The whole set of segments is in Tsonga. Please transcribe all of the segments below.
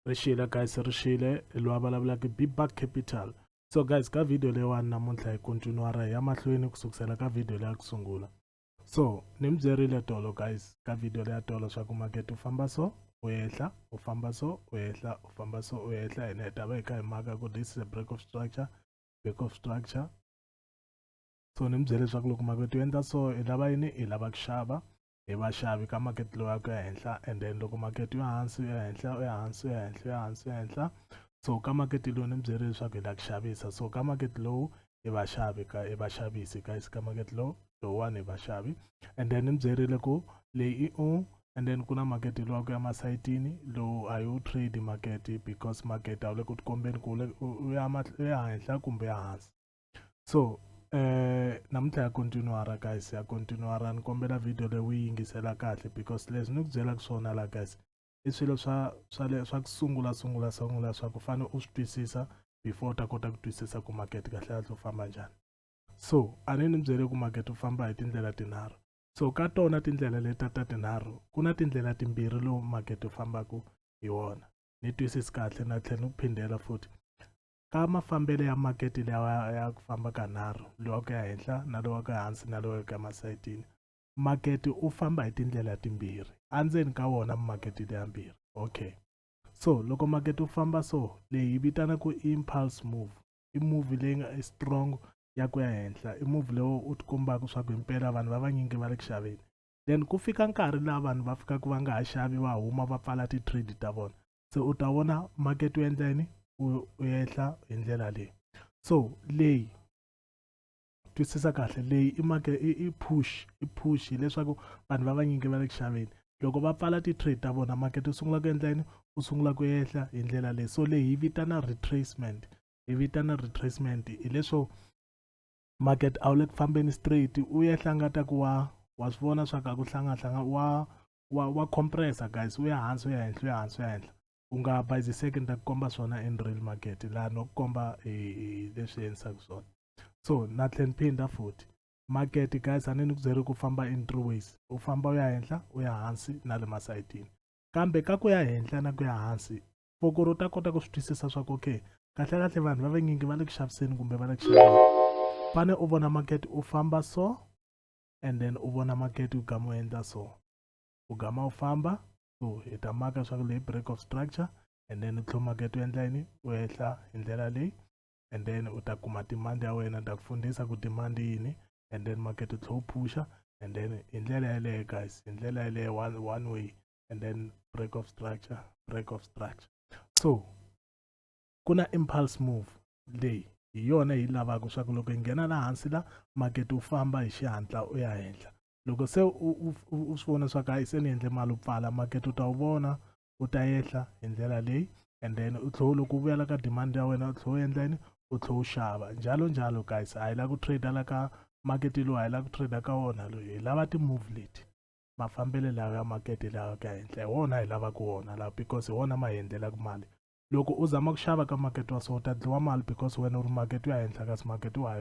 ri xile guys ri xile loyi a vulavulaka bback capital so guys ka video leyiwani namuntlha hi kontinua ra hi ya mahlweni ku sukusela ka video leya ku sungula so ni mi byerile tolo guys ka video leya tolo swa ku makete u famba so u ehla u famba so u ehla u famba so u ehla hina hi ta va hi kha hi maka ku this is a break of structure break of structure so ni mi byele leswaku loko makete u endla so i lava yini i lava ku xava hi vaxavi ka makete lowu ya ku ya henhla and then loko makete yo hansi u ya henhla u ya hansi u ya henhla u ya hansi u ya henhla so ka makete lowu ni byele leswaku hi la ku xavisa so ka makete lowu i vaxavi ka i vaxavisi guys ka makete lowu lowuwani hi vaxavi and then ni mi byerile ku leyi i u and then ku na makete lowa ku ya masayitini lowu a yi wu trade makete because makete a wu le ku tikombeni ku u ya henhla kumbe ya hansi so eh namuntlha ya continuara guys ya continuara ni kombela video leyi u yingisela kahle because leswi ni ku byelaka swona la guys i swilo swa swa le swa ku sungula sungula sungula swa ku fane u swi twisisa before u ta kota ku twisisa ku market kahle kahle u famba njhani so a ni ni byele ku market u famba hi tindlela tinharhu so ka tona tindlela leta ta tinharhu ku na tindlela timbirhi lowu market u fambaka hi wona ni twisisi kahle na tlhela ni ku phindela futhi ka mafambelo ya makete lawa ya ku famba ka nharhu lowa ku ya henhla na lowa ku hansi na lowa ku ya masayitini makete u famba hi tindlela timbirhi endzeni ka wona makete leyambirhi okay so loko makete u famba so leyi hi vitana ku impulse move i move leyi nga strong ya ku ya henhla i move lowu u ti kombaka swa ku himpela vanhu va vanyingi va le ku xaveni then ku fika nkarhi laha vanhu va fikaka va nga ha xavi va huma va pfala ti-trade ta vona se u ta vona market u endla yini u ehla hi ndlela leyi so leyi twisisa kahle leyi i make i push i push hileswaku vanhu va vanyingi va le ku xaveni loko va pfala ti-trade ta vona market u sungula ku endla yini u sungula ku ehla hi ndlela leyi so leyi hi vitana retracement hi vitana retracement hileswo market a wu le ku fambeni straight u ehla nga ta ku wa wa swi vona swa ku a ku hlangahlanga wa wa wa compressa guys u ya hansi u ya henhla u ya hansi u ya henhla u nga bayiziseki ni ta ku komba swona in real market laha no ku komba hi leswi endlisaka swona so na tlhe ni phinda futhi market guys a ni ni ku byeri ku famba in three ways u famba u ya henhla u ya hansi na le masayitini kambe ka ku ya henhla na ku ya hansi fokoro u ta kota ku swi twisisa swa ku okay kahle kahle vanhu va vanyingi va le ku xaviseni kumbe va le ku xaveni fane u vona market u famba so and then u vona market u gama u endla so u gama u famba so hi ta maka leswaku leyi break of structure and then u tlhela market u endla yini u ehla hi ndlela leyi and then u ta kuma demand ya wena ta ku fundisa ku demand yini and then market u tlhela u phusha and then hi ndlela yeleyo guys hi ndlela yeleyo one, one way and then break of structure break of structure so ku na impulse move leyi hi yona hi lavaka swa ku loko hi nghena la hansi la makete wu famba hi xihatla u ya henhla loko se u swi vona swa ku hayi se ni endle mali u pfala makete u ta wu vona u ta yehla hi ndlela leyi and then u tlhela loko u vuyela ka demand ya wena u tlhela u endla yini u tlhela u xava njalo njalo guys a hi lava ku trader la ka makete lowu a hi lava ku trader ka wona loyi hi lava ti-move leti mafambelo lawa ya makete lawa ku ya henhla hi wona hi lavaka wona lawa because hi wona ma hi endlelaka mali loko u zama ku xava ka makete wa so u ta dliwa mali because wena u ri makete wa henhla kasi makete wa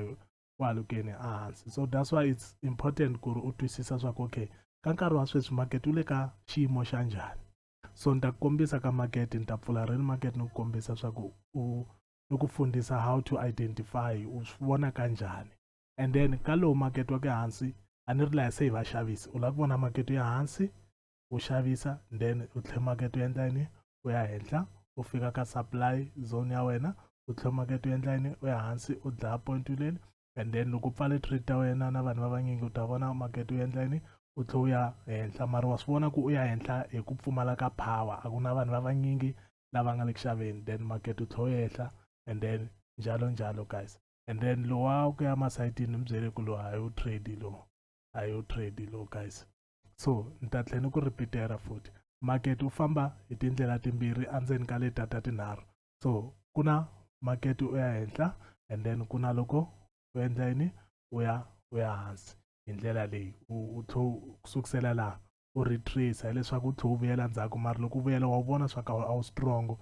wa lukeni ehansi so that's why it's important ku ri u twisisa swa ku okay ka nkarhi wa sweswi makete wu le ka xiyimo xa njhani so ni ta ku kombisa ka makete ni ta pfula reni makete ni ku kombisa swa ku u ni ku fundisa how to identify u swi vona ka njhani and then ka lowu makete wa ke hansi a ni ri laha se hi vaxavisi u lava ku vona makete ya hansi u xavisa then u tlhe market u endla yini u ya henhla u fika ka supply zone ya wena u tlhe market u endla yini u ya hansi u dlaya point leli and then loko u pfale trade ta wena na vanhu va vanyingi u ta vona market u endla yini u tlhe u ya henhla mara wa swi vona ku u ya henhla hi ku pfumala ka power a ku na vanhu va vanyingi lava nga le ku xaveni then market u tlhe u yehla and then njalo njalo guys and then lowa ku ya masayitini mi byele ku lowu a hi wu trade lowu a hi wu trade lowu guys so ni ta tlhela ni ku ripitela futhi makete wu famba hi tindlela timbirhi endzeni ka leta ta tinharhu so ku na makete u ya henhla and then ku na loko u endla yini u ya u ya hansi hi ndlela leyi u tlho ku sukusela laha u retrace hileswaku u tlhe u vuyela ndzhaku mara loko u vuyela wa vona swa ka a wu strong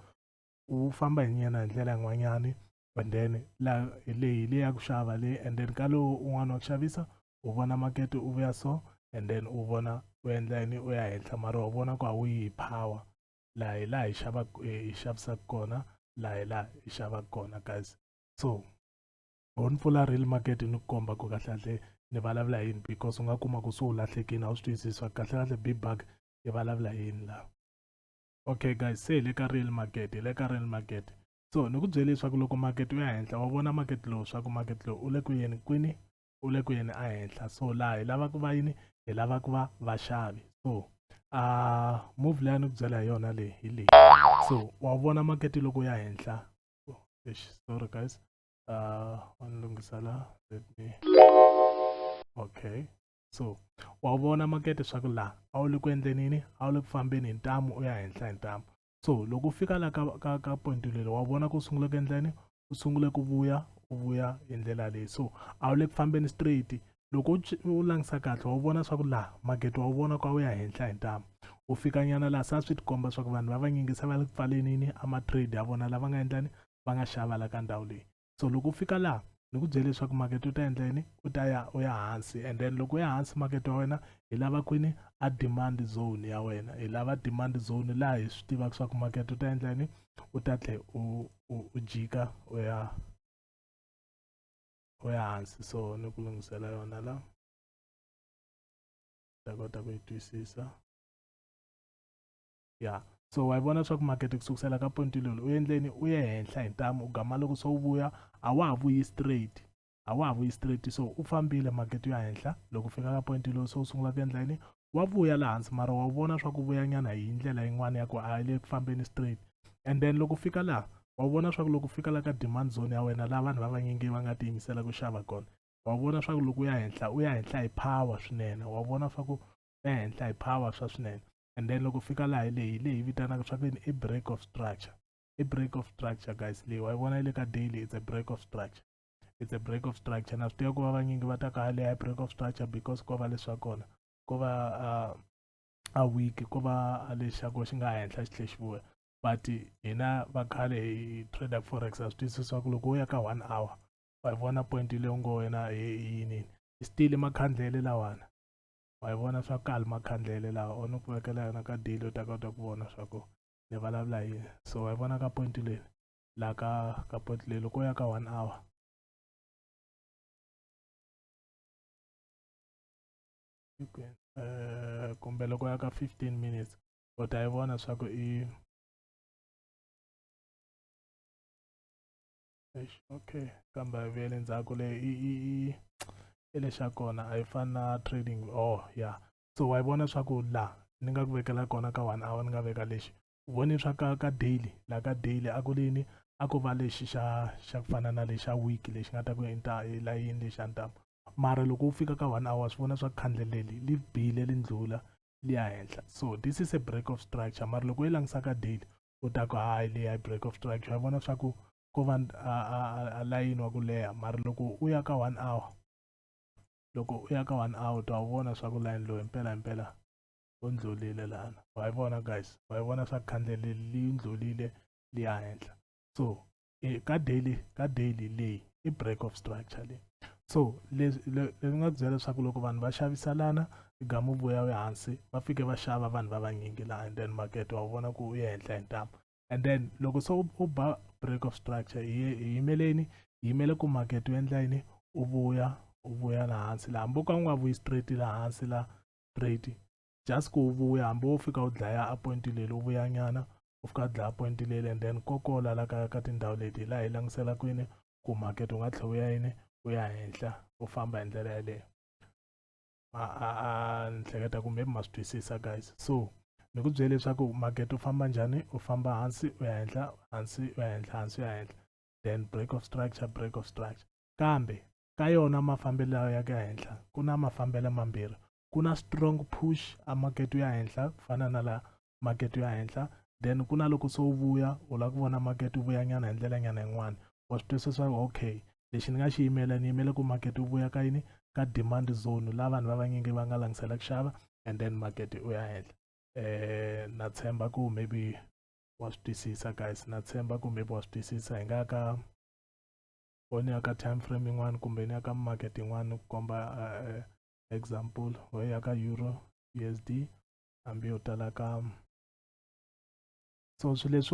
u famba hi nyena hi ndlela yin'wanyani and then la leyi leyi ya ku xava leyi and then ka lowu un'wana wa ku xavisa u vona makete u vuya so and then u vona u endla yini u ya henhla mara u vona ku a wu yi power laha hi laha hi xavaka hi xavisaka kona laha hi laha hi xavaka kona guys so ho ni pfula real market ni ku komba ku kahlekahle ni vulavula yini because u nga kuma ku se u lahlekini a wu swi twisisa kahlekahle big bag yi vulavula yini laha okay guys se hi le ka real market hi le ka real market so ni ku byele leswaku loko makete u ya henhla wa vona makete lowu swa ku makete lowu u le ku yeni kwini u le ku yeni ehenhla so laha hi lava ku va yini hi lava ku va vaxavi so a uh, move leyi a ni ku byela hi yona leyi hi leyi so wa vona makete loko ya henhla sorry guys uh, wa ni lunghisa la let me okay so wa vona makete swa ku laha a wu le ku endleni yini a wu le ku fambeni hi ntamu u ya henhla hi ntamu so loko u fika la ka ka ka point lele wa vona ku sungula ku endleni u sungule ku vuya u vuya hi ndlela leyi so a wu le ku fambeni straight loko u langisa kahle wa vona swa ku laha magede wa vona kwa wu ya henhla hi ntamu u fika nyana laha sa swi tikomba swa ku vanhu va vanyingi se va le ku pfalenini a ma-trade ya vona lava nga endlani va nga xava la ka ndhawu leyi so loko u fika laha ni ku byele leswaku makete u ta endla yini u ta ya u ya hansi and then loko u ya hansi makete wa wena hi lava kwini a demand zone ya wena hi lava demand zone laha hi swi tivaka swa ku makete u ta endla yini u ta tlhe u u jika u ya u ya hansi so ni ku lunghisela yona la ta kota ku yi twisisa ya so wa yi vona leswaku makete ku sukusela ka point lolo u endleni u ye henhla hi ntamu u gama loko se u vuya a wa ha vuyi straight a wa ha vuyi straight so u fambile makete ya henhla loko u fika ka point lowu se u sungula ku endla yini wa vuya laha hansi mara wa vona swa ku vuya nyana hi ndlela yin'wana ya ku a yi le ku fambeni straight and then loko fika laha wa vona swa ku loko fika la ka demand zone ya wena laha vanhu va vanyingi va nga tiyimisela ku xava kona wa vona swa ku loko u ya henhla u ya henhla hi power swinene wa vona swa ku u ya henhla hi power swa swinene and then loko fika laha hi leyi leyi vitanaka swa ve ni i break of structure i break of structure guys leyi wa yi vona yi le ka daily it's a break of structure it's a break of structure na swi tiva ku va vanyingi va ta ka leyi break of structure because ko va leswa kona ko va uh, a week ko va lexako xi nga henhla xi tlhe xi vuya but hina va khale hi trader forex a swi twisisa ku loko wo ya ka one hour wa yi vona point leyi u ngo wena hi yinini still makhandlele lawana wa yi vona swa kali makhandlele laha o ni ku vekela yona ka deli u ta kota ku vona swa ku ni vulavula hi yini so wa yi vona ka point leyi laha ka ka point leyi loko u ya ka one hour eh, kumbe loko ya ka 15 minutes u ta yi vona swa ku i okay kambe a yi vuyeli ndzhaku le i i i i lexi ya kona a yi fani na trading oh ya yeah. so wa yi vona swa ku la ni nga ku vekela kona ka one hour ni nga veka lexi u voni swa ka ka daily la ka daily a ku lini a ko va lexi xa xa ku fana na lexa week lexi nga ta ku inta elayini lexi a ni ta mara loko u fika ka one hour swi vona swa khandleleli li bile li ndlula li ya henhla so this is a break of structure mara loko yi langisa ka daily u ta ku hayi leyi a yi break of strike xa vona swa ku ko va a layini wa ku leha mara loko u ya ka one hour loko u ya ka one hour ta wu vona swa ku layini lowu himpela himpela u ndlulile lana wa yi vona guys wa yi vona swa ku khandleleli yi ndlulile liya henhla so eh, ka daily ka daily leyi i break of structure leyi so leswi leswi nga byela leswaku loko vanhu va xaviselana gamu vuya we hansi va fike va xava vanhu va vanyingi laha and then market wa vona ku u ye henhla hi ntambu and then loko se u ba break of structure hi yimeleni hi yimele ku market u endla yini u vuya u vuya laha hansi laha hambi u ka u nga vuyi straight laha hansi laha straight just ku vuya hambi wo fika u dlaya a point leli u vuyanyana u fika dlaya point leli and then kokola la ka ka tindhawu leti hi laha hi languselaka kwini ku market u nga tlhe u ya yini u ya henhla u famba hi ndlela yeleyo a ni hleketa kumbe ma swi twisisa guys so ni ku byele leswaku market u famba njhani u famba hansi u ya henhla hansi u ya henhla hansi u ya henhla then break of structure break of structure kambe ka yona mafambelo ya ka henhla ku na mafambelo mambirhi ku na strong push a market ya henhla ku fana na la market ya henhla then ku na loko se wu vuya u lava ku vona market wu vuyanyana hi ndlela nyana yin'wana wa swi twisisa okay lexi ni nga xi yimela ni yimele ku market wu vuya ka yini ka demand zone la vanhu va vanyingi va nga langisela ku xava and then market u ya henhla eh na tshemba ku maybe wa swi twisisa guys na tshemba ku maybe wa swi twisisa hi nga ka foni ya ka time frame yin'wana kumbe ni ya ka market yin'wana ku komba eh, example ho ya ka euro U_S_D hambi yo tala ka so swi leswi.